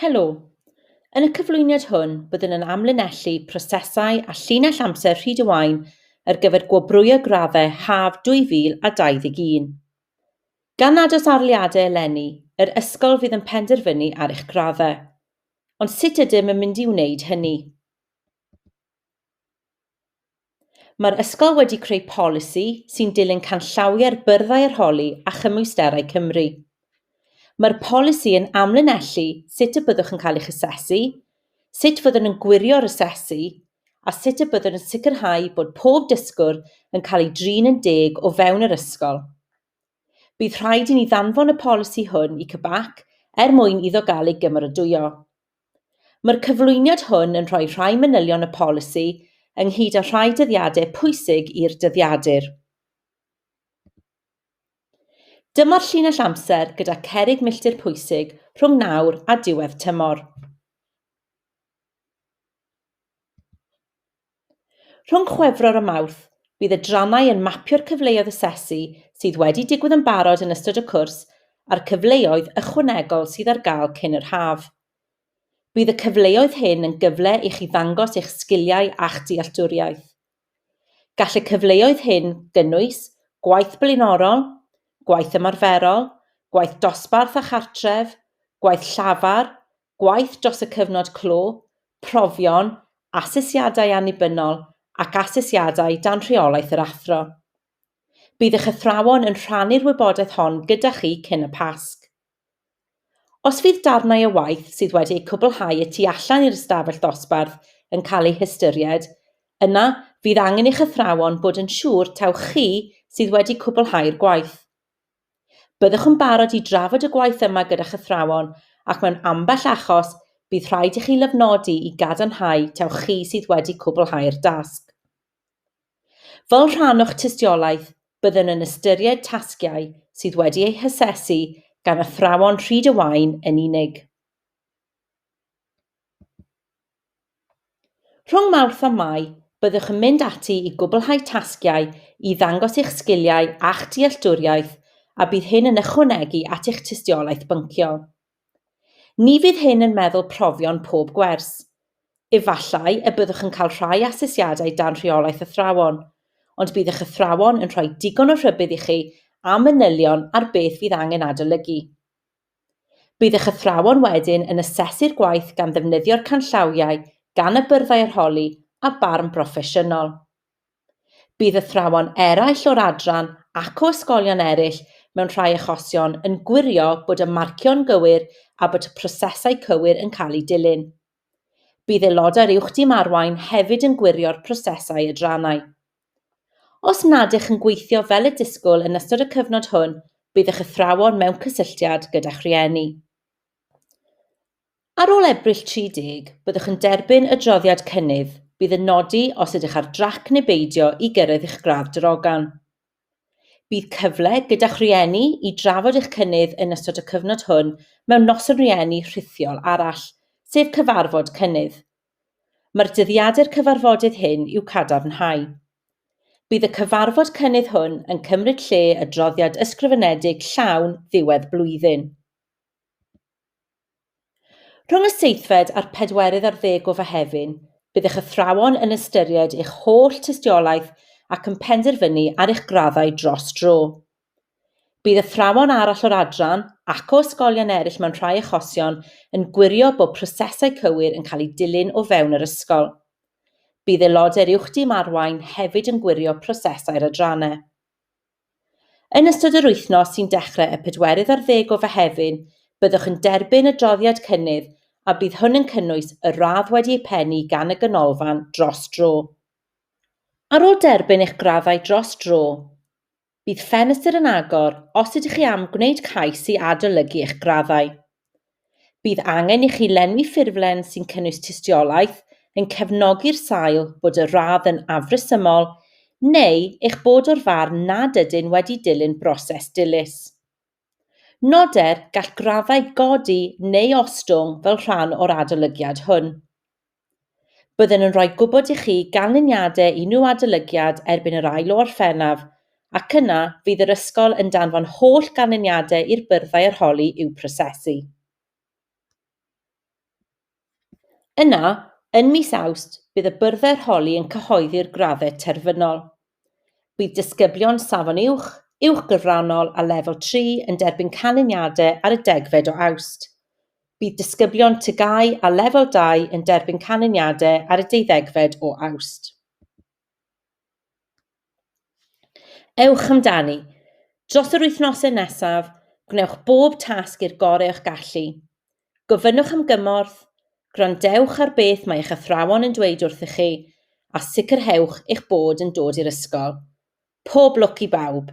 Helo! Yn y cyflwyniad hwn byddwn yn amlinellu prosesau a llinell amser Rhyd-y-waun ar gyfer gwobrwyo graddau haf 2021. Gan nad oes arloliadau eleni, yr ysgol fydd yn penderfynu ar eich graddau. Ond sut ydym yn mynd i wneud hynny? Mae'r ysgol wedi creu polisi sy'n dilyn canllawiau'r Byrddau Arholi a Chymwysterau Cymru. Mae'r polisi yn amlinellu sut y byddwch yn cael eich asesu, sut fyddwn yn gwirio'r asesu, a sut y byddwn yn sicrhau bod pob dysgwr yn cael ei drin yn deg o fewn yr ysgol. Bydd rhaid i ni ddanfon y polisi hwn i CBAC er mwyn iddo gael ei gymeradwyo. Mae'r cyflwyniad hwn yn rhoi rhai manylion y polisi ynghyd â rhai dyddiadau pwysig i'r dyddiadur. Dyma'r llinell amser gyda cerrig milltir pwysig rhwng nawr a diwedd tymor. Rhwng Chwefror a Mawrth, bydd adrannau yn mapio'r cyfleoedd asesu sydd wedi digwydd yn barod yn ystod y cwrs a'r cyfleoedd ychwanegol sydd ar gael cyn yr haf. Bydd y cyfleoedd hyn yn gyfle i chi ddangos eich sgiliau a'ch dealltwriaeth. Gall y cyfleoedd hyn gynnwys gwaith blaenorol, gwaith ymarferol, gwaith dosbarth a chartref, gwaith llafar, gwaith dros y cyfnod clo, profion, asesiadau annibynnol ac asesiadau dan rheolaeth yr athro. Bydd eich athrawon yn rhannu'r wybodaeth hon gyda chi cyn y Pasg. Os fydd darnau o waith sydd wedi eu cwblhau y tu allan i'r ystafell ddosbarth yn cael eu hystyried, yna fydd angen i'ch athrawon bod yn siŵr taw chi sydd wedi cwblhau'r gwaith. Byddwch yn barod i drafod y gwaith yma gyda'ch athrawon ac mewn ambell achos bydd rhaid i chi lofnodi i gadarnhau taw chi sydd wedi cwblhau'r dasg. Fel rhan o'ch tystiolaeth, byddwn yn ystyried tasgiau sydd wedi eu hasesu gan athrawon Rhyd y Waun yn unig. Rhwng Mawrth a Mai, byddwch yn mynd ati i gwblhau tasgiau i ddangos eich sgiliau a'ch dealltwriaeth a bydd hyn yn ychwanegu at eich tystiolaeth bynciol. Ni fydd hyn yn meddwl profion pob gwers. Efallai y byddwch yn cael rhai asesiadau dan rheolaeth athrawon, ond bydd eich athrawon yn rhoi digon o rhybudd i chi a manylion ar beth fydd angen adolygu. Bydd eich athrawon wedyn yn asesu'r gwaith gan ddefnyddio'r canllawiau gan y Byrddau Arholi a barn broffesiynol. Bydd athrawon eraill o'r adran ac o ysgolion eraill mewn rhai achosion yn gwirio bod y marcio'n gywir a bod y prosesau cywir yn cael eu dilyn. Bydd aelodau'r Uwch Dîm Arwain hefyd yn gwirio'r prosesau adrannau. Os nad ych yn gweithio fel y disgwyl yn ystod y cyfnod hwn, bydd eich athrawon mewn cysylltiad gyda'ch rhieni. Ar ôl Ebrill 30, byddwch yn derbyn adroddiad cynnydd, bydd yn nodi os ydych ar drac neu beidio i gyrraedd eich gradd drogan. Bydd cyfle gyda'ch rhieni i drafod eich cynnydd yn ystod y cyfnod hwn mewn Noson Rhieni rhithiol arall, sef cyfarfod cynnydd. Mae'r dyddiadur cyfarfodydd hyn i'w cadarnhau. Bydd y cyfarfod cynnydd hwn yn cymryd lle adroddiad ysgrifenedig llawn ddiwedd blwyddyn. Rhwng y seithfed a'r pedwerydd ar ddeg o Fehefin, bydd eich athrawon yn ystyried eich holl tystiolaeth ac yn penderfynu ar eich graddau dros dro. Bydd athrawon arall o'r adran, ac o ysgolion eraill mewn rhai achosion, yn gwirio bod prosesau cywir yn cael eu dilyn o fewn yr ysgol. Bydd aelodau'r Uwch Dîm Arwain hefyd yn gwirio prosesau'r adrannau. Yn ystod yr wythnos sy'n dechrau y pedwerydd ar ddeg o Fehefin, byddwch yn derbyn adroddiad cynnydd a bydd hwn yn cynnwys y radd wedi ei phennu gan y Ganolfan dros dro. Ar ôl derbyn eich graddau dros dro, Bydd ffenestr yn agor os ydych chi am gwneud cais i adolygu eich graddau. Bydd angen i chi lenwi ffurflen sy'n cynnwys tystiolaeth yn cefnogi'r sail bod y radd yn afresymol neu eich bod o'r farn nad ydyn wedi dilyn broses dilys. Noder, gall graddau godi neu ostwng fel rhan o'r adolygiad hwn. Byddwn yn rhoi gwybod i chi ganlyniadau unrhyw adolygiad erbyn yr ail o Orffennaf, ac yna fydd yr ysgol yn danfon holl ganlyniadau i'r byrddau arholi i'w prosesu. Yna, yn mis Awst, bydd y byrddau'r holi yn cyhoeddi'r graddau terfynol. Bydd disgyblion Safon Uwch, Uwch Gyfrannol a Lefel 3 yn derbyn canlyniadau ar y degfed o Awst. Bydd disgyblion TGAU a Lefel 2 yn derbyn canlyniadau ar y deuddegfed o Awst. Ewch amdani! Dros yr wythnosau nesaf, gwnewch bob tasg i'r gorau o'ch gallu. Gofynnwch am gymorth, gwrandewch ar beth mae eich athrawon yn dweud wrthych chi, a sicrhewch eich bod yn dod i'r ysgol. Pob lwc i bawb!